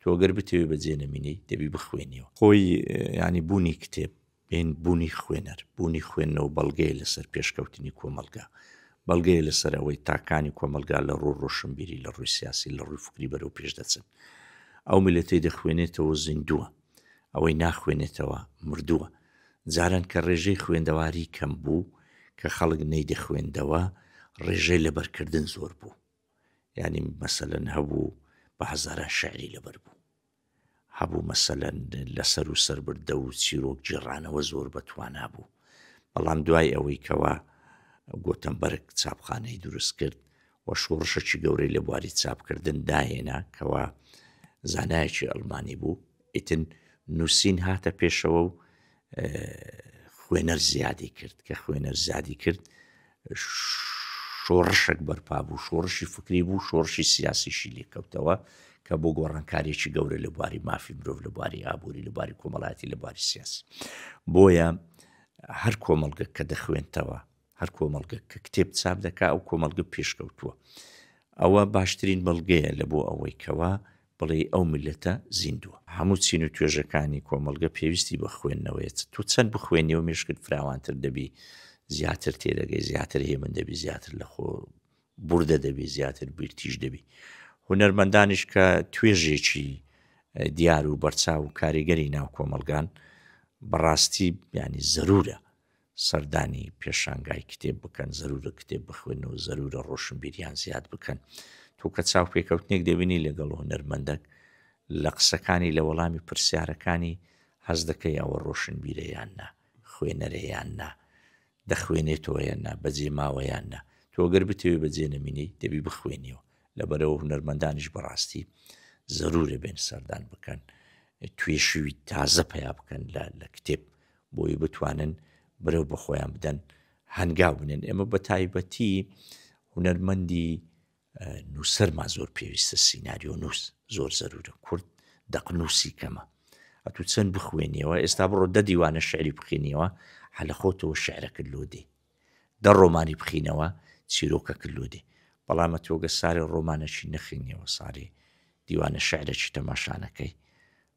تۆ گەر بتەوێ بە جێ نەمینەی دەبی بخوێنیەوە. خۆی یانی بوونی کتێب بین بوونی خوێنەر بوونی خوێندنەوە بەڵگەیە لەسەر پێشکەوتنی کۆمەڵگا. بەڵگەیە لەسەر ئەوەی تاکانی کۆمەڵگا لە ڕوو ڕۆشنبیری لە ڕووی سیاسی لە ڕووی فکری بەرەو پێش دەچن. ئەو میلەتەی دەخوێنێتەوە زیندووە. ئەوەی ناخوێنێتەوە مردووە. جاران کە ڕێژەی خوێندەواری کەم بوو کە خەڵک نەیدەخوێندەوە ڕێژەی لەبەرکردن زۆر بوو. یانی مەسەلەن هەبوو بە هەزارە شعری لەبەر بوو هەبوو مەسەلەن لەسەر و سربردە و چیرۆک جێڕانەوە زۆر بەتوانا بوو بەڵام دوای ئەوەی کەەوە گۆتەمبەرگ چاپخانەی دروست کرد و شۆڕشەکی گەورەی لە بواری چاپکردن داهێنا کەەوە زانایەکی ئەلمانی بوو ئیتن نووسین هاتە پێشەوە و خوێنەر زیادی کرد کە خوێنەر زیادی کرد شۆڕشک بەرپا بوو شۆڕشی فکری بوو شۆڕشی سیاسیشی لێکەوتەوە کە بۆ گۆڕانکارێکی گەورە لە بواری مافی مرۆڤ لە بواری ئابووری لە باری کۆمەڵاتی لە باری سیاسی بۆیە هەر کۆمەڵگە کە دەخوێنتەوە هەر کۆمەڵگە کە کتێب چاپ دەکا ئەو کۆمەڵگە پێشکەوتووە ئەوە باشترین بەڵگەیە لە بۆ ئەوەی کەوا بڵێ ئەو ملەتە زیندووە هەموو چین و توێژەکانی کۆمەلگە پێویستی بە خوێندنەوەیت تو چەند بخوێنی و مشکت فراوانتر دەبی زیاتر تێدەگەی زیاتر هێمن دەبی زیاتر لە خۆ بوردە دەبی زیاتر بیرتیش دەبی هونەرمەندانیش کە توێژێکی دیار و بەرچاو و کاریگەری ناو کۆمەلگان بەڕاستی ینی زەرورە سەردانی پێشانگای کتێب بکەن، زەروورە کتێب بخوێنن و زەروورە ڕۆشنبیریان زیاد بکەن. تۆ کە چاوپێکەوتنێک دەبینی لەگەڵ هونەرمەندەک، لە قسەکانی، لە وەڵامی پرسیارەکانی هەست دەکەی ئەوە ڕۆشنبیرە یان نا، خوێنەرە یان نا، دەخوێنێتەوە یان نا، بەجێ ماوە یان نا. تۆ گەر بتەوێت بەجێ نەمینیت، دەبی بخوێنیەوە. لەبەرئەوە هونەرمەندانیش بەڕاستی زەروورە بێن سەردان بکەن، توێشووی تازە پەیا بکەن لە کتێب بۆی بتوانن برەو بە خۆیان بدەن هەنگاو بنێن ئێمە بە تایبەتی هونەرمەندی نووسەرمان زۆر پێویستە سینناریۆ نووس زۆر زەرورە کورد دەقنووسی کەمە ئەتو چەند بخوێنیەوە ئێستا بڕۆ دە دیوانە شعری بخینیەوە حەلە خۆتەوە شعرەکرد لۆ دێ دە ڕۆمانی بخینەوە چیرۆکە کرد لۆ دێ بەڵامە تۆگە سارێ ڕۆمانەشی نەخینیەوە سارێ دیوانە شعرەشی تەماشانەکەی